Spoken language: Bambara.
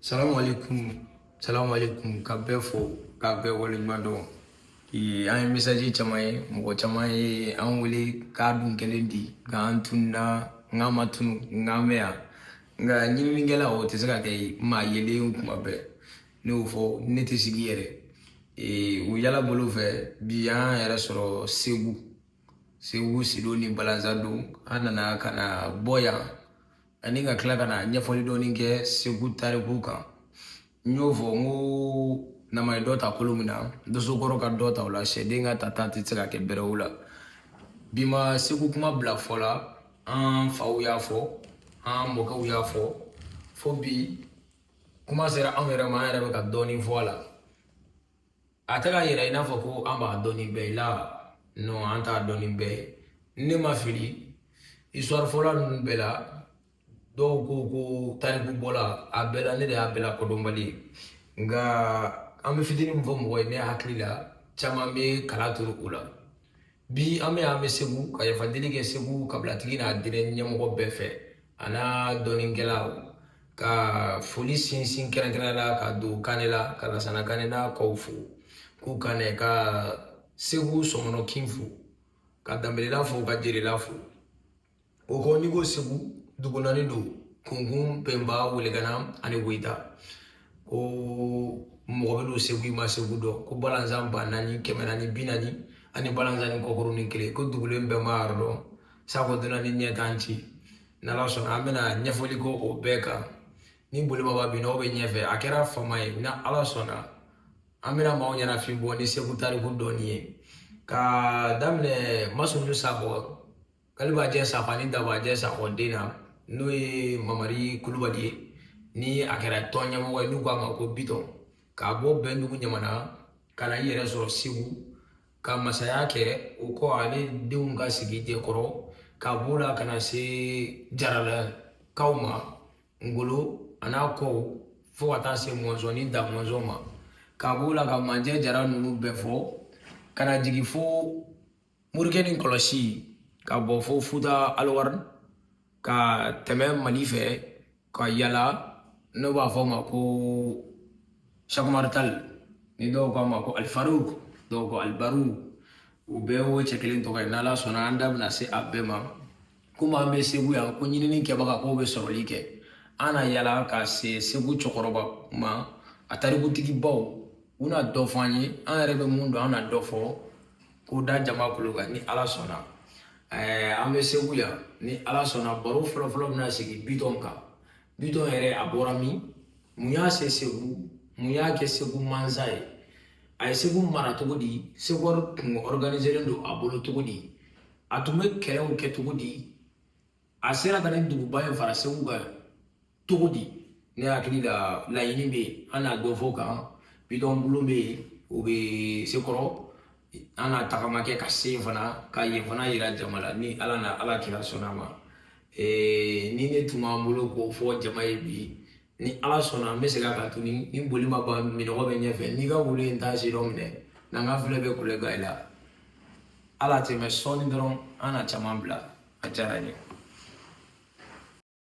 salamu alaikum salamu alaikum ka bɛɛ fo ka bɛɛ waleɲuman dɔn an ye mesaji caman ye mɔgɔ caman ye an wele k'a dun kɛlen di k'an tununa n k'an ma tunu n k'an bɛ yan nka ɲininikɛla o tɛ se ka kɛ maa yelen kuma bɛɛ ne y'o fɔ ne tɛ sigi yɛrɛ o yala bolo fɛ bi an yɛrɛ sɔrɔ segu segu sido ni balanzando an nana ka na bɔ yan ani ka tila ka na ɲɛfɔli dɔɔni kɛ segu tariku kan n y'o fɔ n ko nama ye dɔ ta kolo min na dosokɔrɔ ka dɔ ta o la sɛden ka tata tɛ se ka kɛ bɛrɛ y'o la bi ma segu kuma bila fɔ la an faw y'a fɔ an mɔkɛw y'a fɔ fo bi kuma sera anw yɛrɛ ma an yɛrɛ bɛ ka dɔɔni fɔ a la a tɛ k'a yira i n'a fɔ ko an b'a dɔn ni bɛɛ ye la non an t'a dɔn ni bɛɛ ye ne ma fili histoire fɔla ninnu bɛɛ la dɔw ko ko tariku bɔla a bɛɛ la ne de y'a bɛɛ la kodɔnbali ye nka an bɛ fitini min fɔ mɔgɔ ye ne hakili la caman bɛ kala turu o la Bi an bɛ an bɛ segu ka yafadeli kɛ segu kabilatigi n'a diinɛ ɲɛmɔgɔ bɛɛ fɛ a n'a dɔnikɛlaw ka foli sinsin kɛrɛnkɛrɛnnenya la ka don kanɛla ka lasana kanɛ n'a kɔw fo k'u kanɛ ka segu sɔmɔnɔ kin fo ka danbelela fo ka jerela fo O kɔ n'i ko segu dugu naani don kunkun pɛnba welegana ani woyita ko mɔgɔ bɛ don segu i ma segu dɔn ko balanzan ba naani kɛmɛ naani bi naani ani balanzannin kɔkurunin kelen ko dugulen bɛɛ m'a yɔrɔ dɔn sango dunan ni ɲɛ t'an ci n'ala sɔnna an bɛna ɲɛfɔli kɛ o bɛɛ kan ni bolibaba bin n'aw bɛ ɲɛfɛ a kɛra fama ye n'ala sɔnna an bɛna maaw ɲɛnafin bɔ ni segu tariku dɔɔni ye ka daminɛ masunu sakɔ kalibajɛ sakɔ ani dabajɛ sakɔ den na n'o ye mamari kulubali ye ni a kɛra tɔn ɲɛmɔgɔ ye n'u k'a ma ko bitɔn ka bɔ bɛndugu ɲamana ka na i yɛrɛ sɔrɔ segu ka masaya kɛ o kɔ ale denw ka sigi jɛkɔrɔ ka b'o la ka na se jaralakaw ma ngolo a n'a kɔw fo ka taa se mɔnzɔn ni da mɔnzɔn ma ka b'o la ka manjɛ jara ninnu bɛɛ fɔ ka na jigin fo morikɛ ni kɔlɔsi ka bɔ fo futa aliwari ka tɛmɛ mali fɛ ka yala n'u b'a fɔ a ma ko sɛku umaru tali ni dɔw k'a ma ko alifaruki dɔw ko alibaru o bɛɛ ye cɛ kelen tɔgɔ ye n'ala sɔnna an da bɛna se a bɛɛ ma komi an bɛ segu yan ko ɲinini kɛbaga k'o bɛ sɔrɔli kɛ an na yala ka se segu cɛkɔrɔba ma a tarikutigibaw u na dɔ fɔ an ye an yɛrɛ bɛ mun dɔn an na dɔ fɔ k'o da jama kulo kan ni ala sɔnna ɛɛ an bɛ segu yan ni ala sɔnna baro fɔlɔfɔlɔ bɛna sigi bitɔn kan bitɔn yɛrɛ a bɔra min mun y'a se segu mun y'a kɛ segu mansa ye a ye segu mara cogo di segu tun organiselen don a bolo cogo di a tun bɛ kɛlɛw kɛ cogo di a sera ka nin duguba in fara segu kan cogo di ne hakili la laɲini bɛ yen an na dɔ fɔ o kan bitɔn bulon bɛ yen o bɛ sekɔrɔ an na tagama kɛ ka se yen fana ka yen fana yira jama la ni ala ni ala kira sɔnna a ma nin de tun b'an bolo k'o fɔ jama ye bi ni ala sɔnna an bɛ segin a kan tuguni ni boli ma ban minnɔgɔ bɛ ɲɛfɛ n'i ka wolo in t'a sidɔn minɛ n'an ka filɛ bɛ kule gayi la a latɛmɛ sɔɔni dɔrɔn an na caman bila a diyara n ye